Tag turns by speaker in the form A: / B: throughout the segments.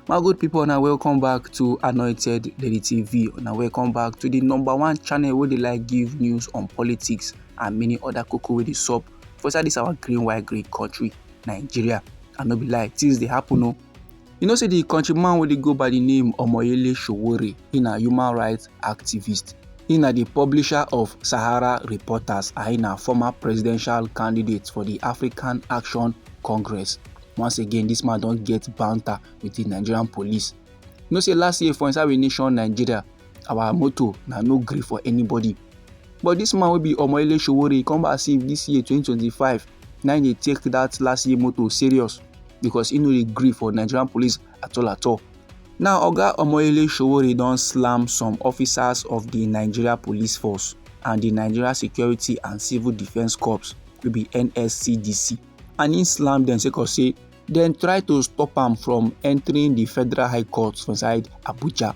A: my good people now welcome back to anointed lady tv now welcome back to the number one channel where they like give news on politics and many other cocoa with the sup for inside this our green white green country nigeria i no be lie things they happen o oh. you know say the countryman wey dey go by the name omoyele sowore he na human rights activist. He na the publisher of Sahara Reporters and na former presidential candidate for the African Action Congress. Once again, this man don't get banter with the Nigerian police. You know say last year for inside we nation Nigeria, our motto na no gree for anybody. But this man will be Omoyele Sowore come back see this year 2025 Now they take that last year motto serious because he no dey gree for Nigerian police at all at all. Now, Oga Omoyele Sowore don slam some officers of the Nigeria Police Force and the Nigeria Security and Civil Defence Corps wey be NSCDC and he slam dem sake of say dem try to stop am from entering the Federal High Court for inside Abuja.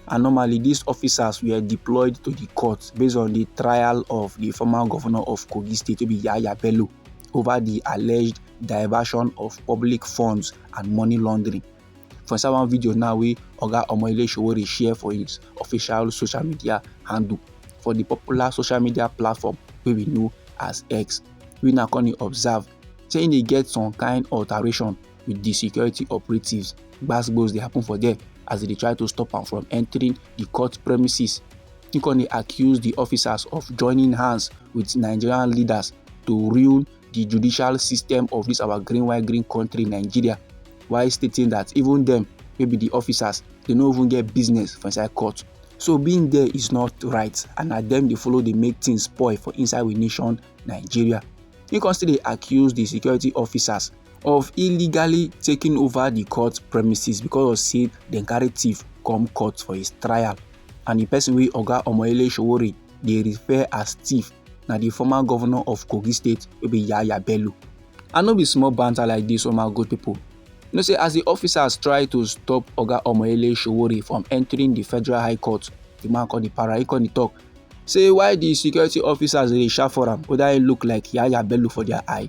A: And normally these officers were deployed to the court based on the trial of the former governor of Kogi State wey be Yahaya Bello. over di alleged diversion of public funds and money laundering. For inside one video now wey Oga Omoyele Sowore share for his official social media handle for di popular social media platform wey we know as X, we now come dey observe say e dey get some kind alteration with di security operatives gbasgbos dey happen for there as dem dey try to stop am from entering di court premises im come dey accuse di officers of joining hands with nigerian leaders to ruin di judicial system of dis our green white green country nigeria while stating that even dem wey be di officers dey no even get business for inside court so being there is not right and na dem dey follow dey make things spoil for inside we nation nigeria im come still dey accuse di security officers of illegally taking over the court premises because of say dem carry thief come court for his trial and the person wey oga omoyele sowore dey refer as thief na the former governor of kogi state wey be yaya bello i no be small banter like this, oh my good people you know say as the officers try to stop oga omoyele sowore from entering the federal high court the man called the para he called the talk say why the security officers dey shout for am whether he look like yaya bello for their eye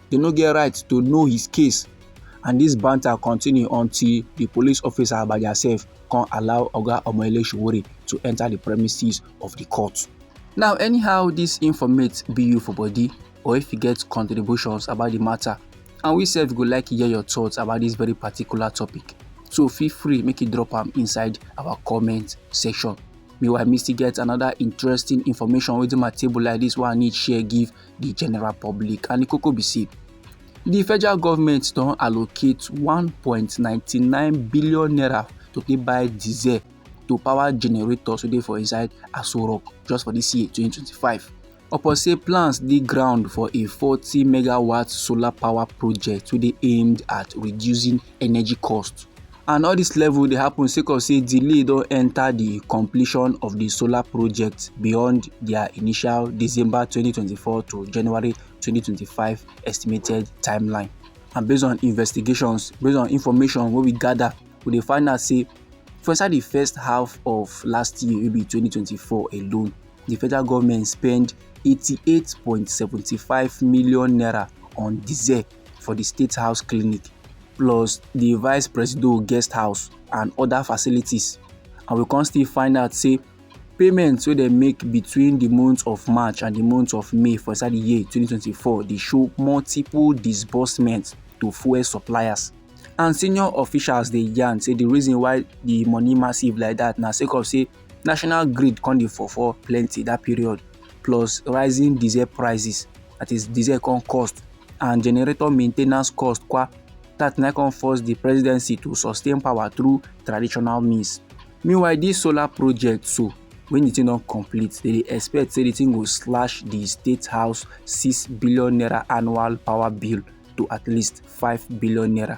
A: they no get right to know his case and this banter continue until the police officer Agbaja sef come allow Oga Omoyele Sowore to enter the premises of the court. Now anyhow this informate be you for body or if you get contributions about the matter and we sef go like hear your thoughts about this very particular topic so feel free make you drop am inside our comment section. Meanwhile, me still get another interesting information within my table like this one I need share give di general public and di koko be say di federal government don allocate 1.99 billion naira to take buy diesel to power generators wey dey for inside aso rock just for dis year 2025 upon say plans dey ground for a 40 megawatt solar power project wey dey aimed at reducing energy cost and all this level dey happen sake of say delay don enter the completion of the solar project beyond their initial december 2024 to january 2025 estimated timeline and based on investigations based on information wey we gather we dey find out say for inside the first half of last year wey be 2024 alone the federal government spend 88.75 million naira on diesel for di State House clinic plus di vice presido guest house and oda facilities and we come still find out say payments wey dem make between di month of march and di month of may for inside di year 2024 dey show multiple disbursements to fuel suppliers and senior officials dey yarn say di reason why di money massive like dat na sake of say national grid come dey fall for plenty dat period plus rising diesel prices that is diesel come cost and generator maintenance cost kwa that na come force the presidency to sustain power through traditional means meanwhile this solar project so when the thing don complete they dey expect say the thing go slash the state house six billion naira annual power bill to at least five billion naira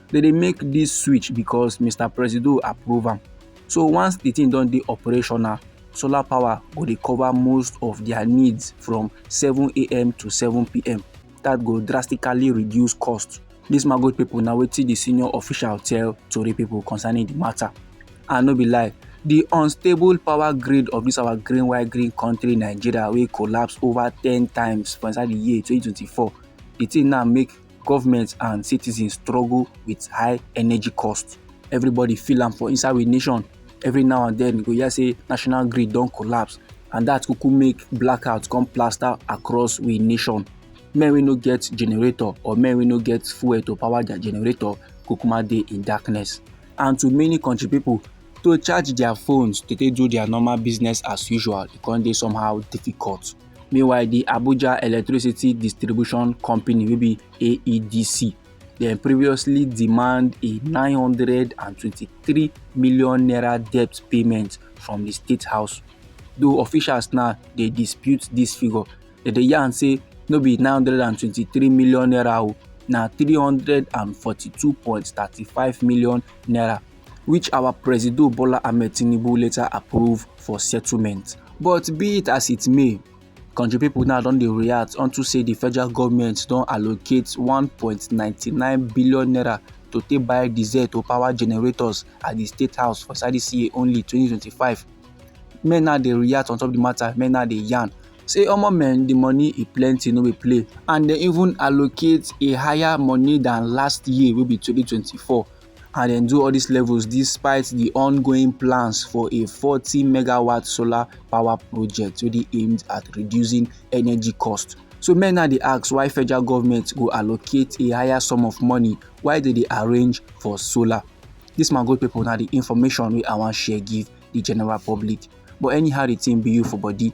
A: they dey make this switch because mr presido approve am so once the thing don dey operational solar power go dey cover most of their needs from 7am to 7pm that go drastically reduce cost this magote people na wetin the senior official tell tori people concerning the matter and no be lie the unstable power grid of this our green white green country nigeria wey collapse over ten times for inside the year 2024 the thing now make government and citizens struggle with high energy cost everybody feel am for inside we nation every now and then you go hear say national grid don collapse and that kuku make blackout come plaster across we nation men wey no get generator or men wey no get fuel to power their generator kukuma dey in darkness and to many country people to charge their phones to take do their normal business as usual e come dey somehow difficult meanwhile di abuja electricity distribution company wey be aedc dem previously demand a 923 million naira debt payment from di state house though officials now dey dispute dis figure dem dey yarn say no be 923 million naira o na 342.35 million naira which our Presido Bola Ahmed Tinubu later approve for settlement. But be it as it may, country people now don dey react unto say the federal government don allocate 1.99 billion naira to take buy diesel to power generators at the state house for inside this year only 2025. Men now dey react on top the matter, men now dey yarn say omo men the money e plenty no be play and dem even allocate a higher money than last year wey be 2024 and dem do all these levels despite the ongoing plans for a 40 megawatt solar power project wey dey aimed at reducing energy cost. So men now dey ask why federal government go allocate a higher sum of money why they dey arrange for solar. This my good people now the information wey I wan share give the general public. But anyhow the thing be you for body,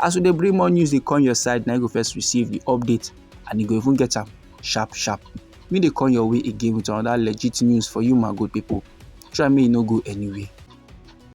A: as we dey bring more news dey come your side na you go first receive the update and you go even get am sharp sharp me dey come your way again with another legit news for you my good people try me no go anywhere.